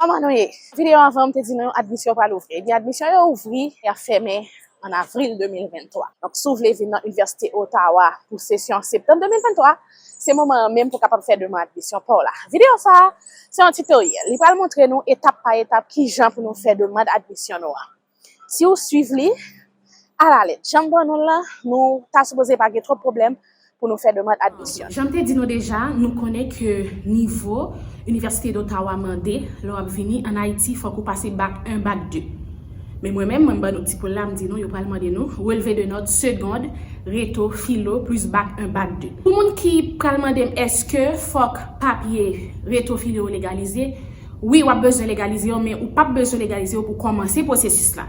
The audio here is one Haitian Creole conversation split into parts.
Kòman nou ye? Videyo anvan m te di nou admisyon pral ouvri. Ebyen admisyon yo ouvri, y ap fèmen an avril 2023. Donk si w vle vin nan Inivèsite Ottawa pou sesyon septanm 2023, se moman an menm pou w kapab fè deman admisyon pa w la. Videyo sa a se yon titoryèl. Li pral montre nou etap pa etap kijan pou nou fè demand admisyon nou an. Si ou swiv li alalèt jan m ban nou l la, nou ta sipoze pa gen twòp pwoblèm pou nou fè demand admisyon. Jan m te di nou deja, nou konnen ke nivo Université d'Ottawa mande lè w ap vini ann Ayiti fòk ou pase Bac 1, Bac 2. Men mwen menm, mwen m ban nou ti poul la, m di nou yo pral mande nou relevé de notes seconde, reto, filo plis Bac 1, Bac 2. Pou moun ki pral mande m èske fòk papye reto filo yo legalize, Wi wap bezwen legalize yo men ou pap bezwen legalize yo pou kòmanse pwosesis la.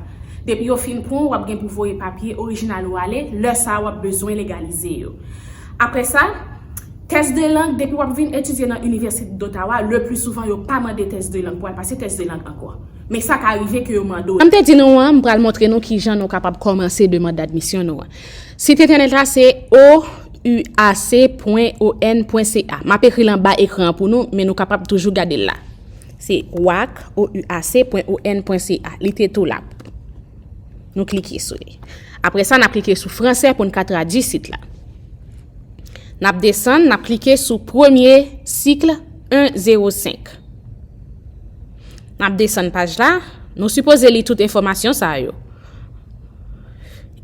Depi yo fin pran w wap gen pou voye papye orijinal ou ale, lè sa wap bezwen legalize yo. Aprè sa, tès de lang depi wap vin etidye nan Inivèsite Dotawa le pli souvan yo pa mande tès de lang pou al pase tès de lang ankò. Men sa ka rive ke yo mande w. Jan m te di nou an, m pral montre nou kijan nou kapab kòmanse demand d'admisyon nou an. Sit entènèt la se ouac.on.ca. M ap ekri l anba ekran an pou nou, men nou kapab toujou gade l la. Se ouac.on.ca. Li te tou la. Nou klike sou li. Apre sa, n ap klike sou franse pou n ka tradui sit la. N ap desann, n ap klike sou premye cycle 1 0 5. N ap desann paj la. Nou sipoze li tout enfòmasyon sa yo.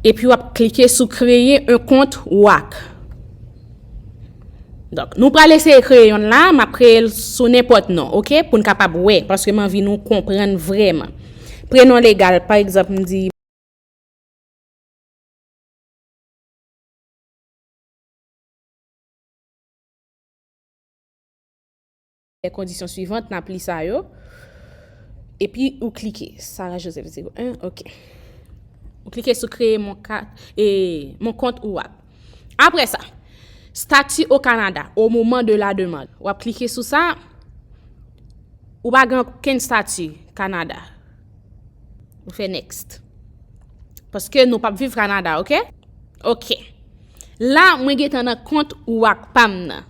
Epi w ap klike sou kreye yon kont ou ak. Donk, nou pral eseye kreye yon la, m ap kreye l sou nenpòt non, ok, pou n kapab wè, paske m anvi nou konprann vrèman. Prenon legal, pa egzanp, m di. Fè kondisyon suivant nap li sa yo epi ou klike Sarah Joseph 01 ok ou klike sou kreye mon kat e mon kont ou ap apre sa stati o Canada o moman de la demand wap klike sou sa ou pa gen okenn stati Canada ou fè next paske nou pap viv Canada ok ok la mwen gentan nan kont ou ap pam nan.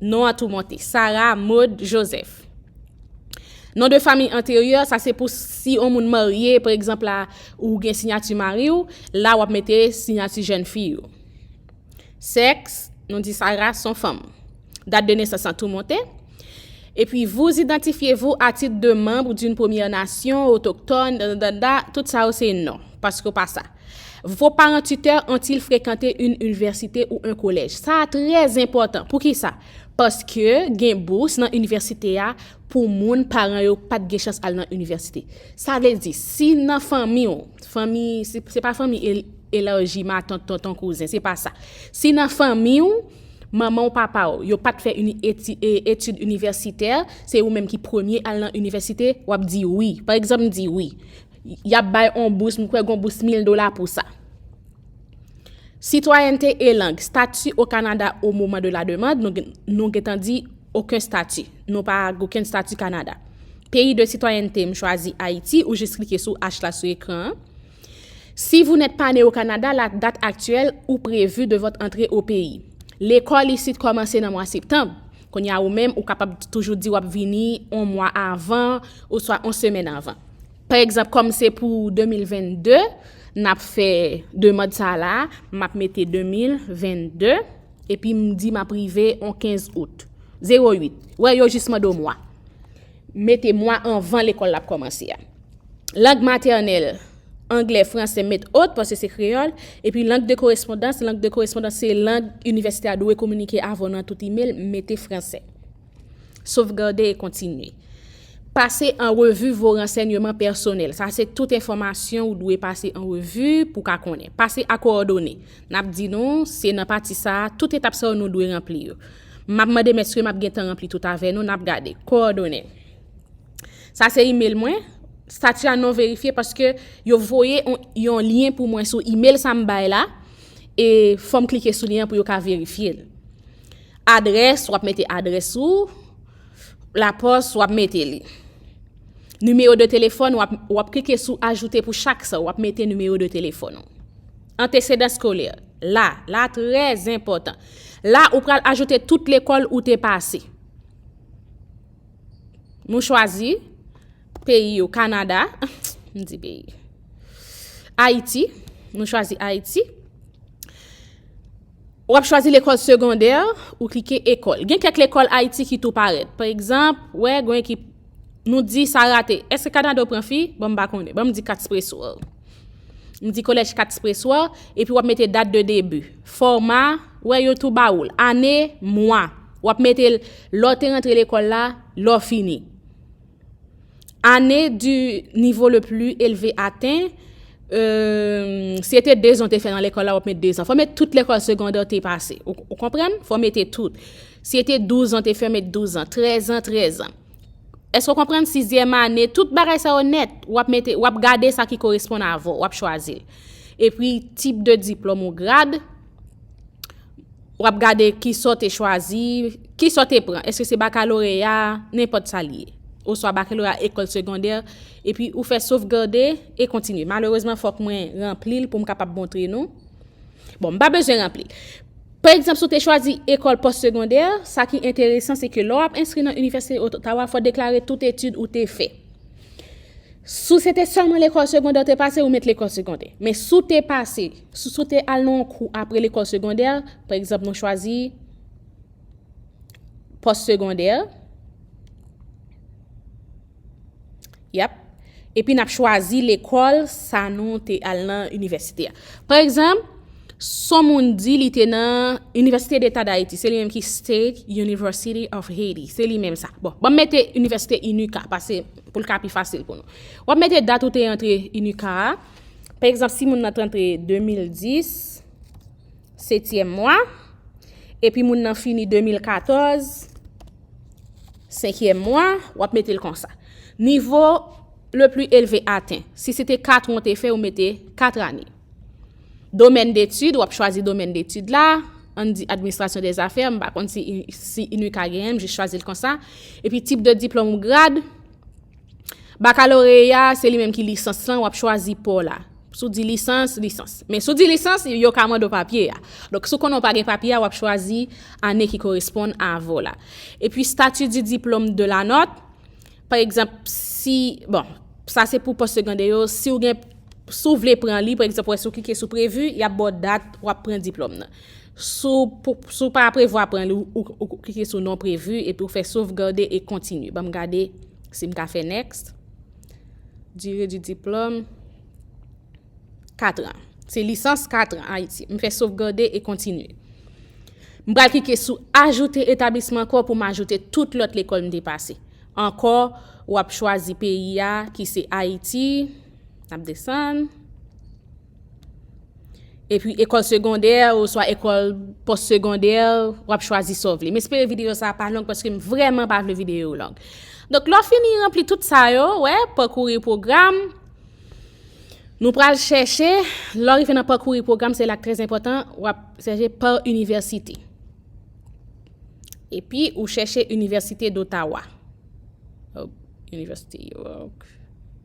Non an toumante. Sara Maude Joseph. Non de famiy anteryè, sa se pou si on moun marye, pa egzanp la, ou gen sinyati mari ou, la wap mete sinyati jèn fi ou. Sèks, nou di Sara son fanm. Dat de nesans an toumante. E pi vous idantifye vous a tit de manb d'une premyè nasyon, otoktòn, danda, tout sa yo se non. Paske ou pa sa. Vos parents tuteurs ont-ils fréquenté une université ou un collège? Sa a trè enpòtan. Poukisa? Paske gen bous nan inivèsite a pou moun paran yo pa t gen chans al nan inivèsite. Sa vle di, si nan fanmi w, fanmi, se pa fanmi elaji, matant, tonton, kouzen, se pa sa. Si nan fanmi w, manman w, papa w, yo pa t fè etid inivèsitè, se ou menm ki premye al nan inivèsite, w ap di wi. Pa egzanp, m di wi. Y ap bay on bous, m kwè gon bous mil dola pou sa. Sitwayènte e lang, stati o Kanada o moman de la demand, nou gentan di oken stati. Nou pa goken stati Kanada. Peyi de sitwayènte, m chwazi Ayiti, ou jis klike sou H la sou ekran an. Si vou nèt pa ne o Kanada, la dat aktyèl ou prevu de vòt antre o peyi. Lekòl isit kòmanse nan mwa septanm. Kounye a ou menm, ou kapab toujou di w ap vini on mwa avan, oswa on semèn avan. Pa egzanp, kòm se pou 2022, n ap fè demand sa la, m ap mete 2022, epi m di m ap rive on 15 out. 08. Wè, yo jis mande w mwa. Mete mwa anvan lekòl la ap kòmanse a. Lang matènèl, anglè, fransè, met ot, paske se kreyòl, epi lang de korespondans, lang de korespondans se lang inivèsite a dwe kominike avè w nan tout imel, mete fransè. Sovgade e kontinye. Pase an revi vo ransènyeman pèsonèl. Sa se tout enfòmasyon ou dwe pase an revi pou ka konnen. Pase a kowòdone. N ap di nou, se nan pati sa a, tout etap sa yo nou dwe ranpli yo. M ap mande mèske m ap gen tan ranpli tout avè nou, n ap gade. Kowòdone. Sa se imel mwen. Stati a non verifye paske yo voye yon lyen pou mwen sou imel sa m bay la. e fòm klike sou li an pou yo ka verifye l. Adrès, wap mete adrès ou, la pòs wap mete li. Nimeyo de telefòn, wap klike sou ajoute pou chak sa, wap mete nimeyo de telefòn ou. Antesedan skolè, la, la trè zenpòtan. La ou pral ajoute tout lekòl ou te pase. Nou chwazi peyi yo Kanada, m di peyi, Ayiti, nou chwazi Ayiti. Ou ap chwazi lekòl segondè, ou klike ekòl. Gen kèk lekòl Ayiti ki tou parèt. Pa egzanp, wè gwen ki nou di sa rate. Eske Kanada ou pran fi? Bon m pa konnen. Bon m di katspreso. M di kolèj 4 Spreswa, epi w ap mete dat de debi. Fòma, wè yo tou ba ou l. Ane, mwa. W ap mete l lè w te rantre lekòl la, lè w fini. Ane di nivo le pli elve aten, si e te 2 zan w te fè nan lekòl la, w ap mete 2 zan. Fò w mete tout lekòl segondè w te pase. Ou konprann? Fò w mete tout. Si e te 12 zan w te fè, mete 12 zan. 13 zan, 13 zan. Èske w konprann? Sizyèm ane, tout bagay sa yo nèt, wap mete, wap gade sa ki koresponn avò, wap chwazi l. E pi, tip de diplòm ou grad, wap gade ki sa w te chwazi, ki sa w te pran, èske se bakaloreya, nenpòt sa li ye. Oswa bakaloreya ekòl segondè, e pi ou fè sovgade, e kontinye. Malerezman fòk mwen ranpli l pou m kapab montre nou. Bon, m pa bezwen ranpli l. Pa egzanp, si w te chwazi ekòl pòstsegondè, sa ki enteresan se ke lè w ap enskri nan Inivèsite Ottawa, fò w deklare tout etid ou te fè. Si se te sèlman lekòl segondè ou te pase, ou met lekòl segondè. Men si w te pase, si w te al nan yon kou apre lekòl segondè, pa egzanp nou chwazi pòstsegondè, Yap. Epi n ap chwazi lekòl sa nou te al nan inivèsite a. Pa egzanp, son moun di li te nan Inivèsite Deta Dayiti. Se li menm ki State University of Haiti. Se li menm sa. Bon, ban m mete Inivèsite Inika, pase pou l ka pi fasil pou nou. W ap mete dat ou te antre Inika a. Pa egzanp, si moun nan te antre 2010. setyèm mwa, epi moun nan fini 2014, senkyèm mwa, w ap mete l konsa. Nivo le pli elve aten. Si se te 4 an te fè, ou mete 4 ane. Domèn detid, w ap chwazi domèn detid la, an di administrasyon de zafè, m pa konn si inuka genyen, m jis chwazi l konsa. Epi tip de diplòm ou grad. Bakaloreya a, se li menm ki lisans lan, w ap chwazi pa w la. Si w di lisans, lisans. Men si w di lisans, yo ka mande w papye a. Donk si w konnen w pa gen papye a, w ap chwazi ane ki koresponn a ave w la. E pi stati di diplome de la nòt, pa egzanp, si, bon, sa se pou postsegondè yo, si w gen, si w vle pran li, pa egzanp, wè si w klike sou prevu, y ap ba w dat w ap pran diplome nan. Si w pa prevwa pran li, ou klike sou non prevu epi ou fè sovgade e kontinu. Banm gade si m ka fè next. Dire di diplom. 4 an. Se lisans 4 an Ayiti. M fè sovgade e kontinu. M pral klike sou ajoute etablisman ankò pou m ajoute tout lòt lekòl m te pase. Ankò, w ap chwazi peyi a ki se Ayiti. N ap desann. Epi ekòl segondè ou swa ekòl pòs segondè w ap chwazi sa w vle. M espere videyo sa pa long paske m vreman pa vle videyo yo long. Donk lò fini ranpli tout sa yo, wè, pakouri pwogram. Nou pral chèche, lò rive nan pakouri pwogram, se lak trèz enpòtan, w ap chèche pa inivèsite. Epi ou chèche Inivèsite d'Ottawa.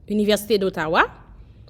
Inivèsite d'Ottawa.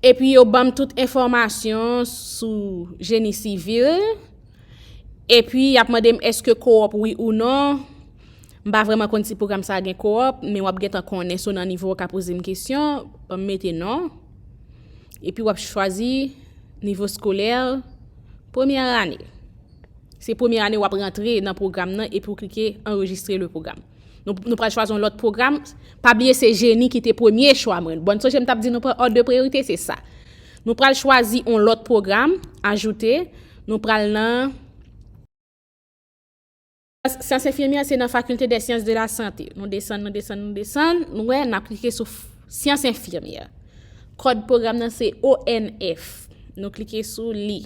Epi yo banm tout enfòmasyon sou jeni sivil. Epi y ap mande m èske kowòp wi ou non. M pa vreman konn si pwogram sa gen kowòp, men w ap gen tan konnen so nan nivo w ka poze m kesyon. Ban m mete non. Epi w ap chwazi nivo skolè premyè ane. Se premyè ane w ap rantre nan pwogram nan epi w klike anrejistre le pwogram. Nou pral chwazi yon lòt pwogram. Pa bliye se jeni ki te premye chwa mwen. Bon, sonje m t ap di nou pran òd de priyorite, se sa. Nou pral chwazi yon lòt pwogram, ajoute, nou pral nan. Syans enfimyè se nan fakilte dè syans de la sante. Nou desann, nou desann, nou desann, nou wè, n ap klike sou syans enfimyè. Kòd pwogram nan se ONF. Nou klike sou li.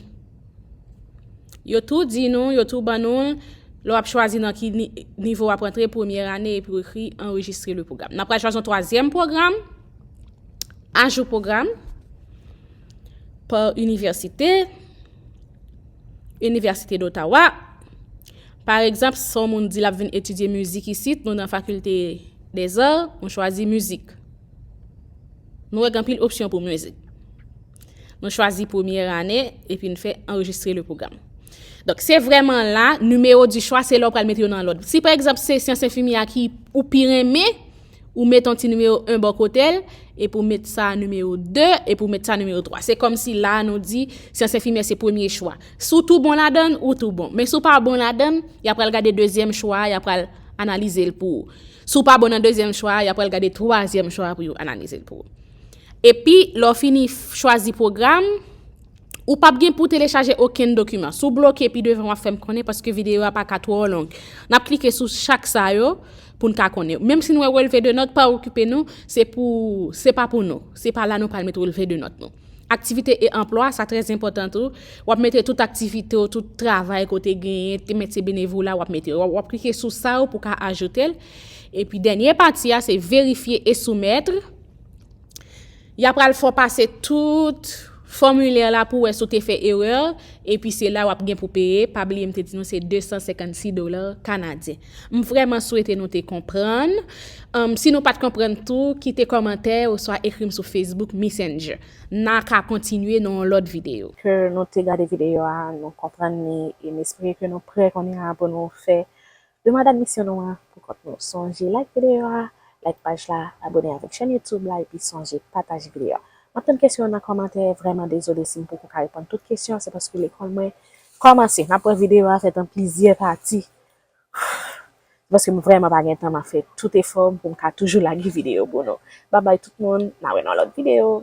Yo tou di nou, yo tou ban nou l, lè w ap chwazi nan ki nivo w ap antre premyè ane epi w ekri anrejistre le pwogram. N ap pral chwazi yon twazyèm pwogram, ajou pwogram, pa inivèsite, Université d'Ottawa. Par egzanp, si yon moun di l ap vin etidye mizik isit, nou nan fakilte dezar, nou chwazi mizik. Nou wè gen anpil opsyon pou mizik. Nou chwazi premye ane epi n fè anrejistre le pwogram. Donk, se vreman la, nimewo di chwa se lò pral mete yo nan lòd. Si, pa egzamp, se syans enfimi a ki ou pi renmen, ou met an ti nimewo 1 bò kote l, epi ou met sa nimewo 2, epi ou met sa nimewo 3. Se kòm si la nou di, syans enfimi a se premye chwa. Si ou tou bon ladann, ou tou bon. Men si ou pa bon ladann, y ap pral gade dezyèm chwa a, y ap pral analize l pou ou. Si ou pa bon nan dezyèm chwa a, y ap pral gade twazyèm chwa a pou yo analize l pou ou. Epi, lè w fini chwazi pwogram, ou p ap gen pou w telechaje okenn dokiman. Si w bloke pi devan w ap fè m konnen paske videyo a pa ka twò long. N ap klike sou chak sa yo pou n ka konnen. Menm si n wè relve de nòt, pa okipe nou, se pou, se pa pou nou. Se pa la nou pral met relve de nòt nou. Aktivite e anplwa, sa trè enpòtan tou. W ap mete tout aktivite w, tout travay ke w te genyen, te metye benevola w ap mete. W ap klike sou sa yo pou w ka ajoute l. Epi dènye pati a se verifye e soumètre. Ya pral fè w pase tout fòmilè la pou wè si w te fè erè, epi se la w ap gen pou peye, pa bliye m te di nou se 256 dola kanadyen. M vrèman swete nou te konprann, si nou pat konprann tou kite kòmantè oswa ekri m sou Facebook Messenger. N a ka kontinye nan yon lòt videyo. Ke nou te gade videyo a, nou konprann li, e m espere ke nou prè kounye a pou nou fè Demand admisyon nou an pou kont nou. Sonje like videyo a, like paj la, abone avèk chèn YouTube la epi sonje pataje videyo a. Map tann kesyon w nan kòmantè, vrèman dezole si m poko ka reponn tout kesyon, se paske lekòl mwen kòmanse. Nap wè videyo a fèt an plizyè pati se paske m vrèman pa gen tan map fè tout efò m pou m ka toujou lage videyo pou nou. Babay tout moun, na wè nan lòt videyo.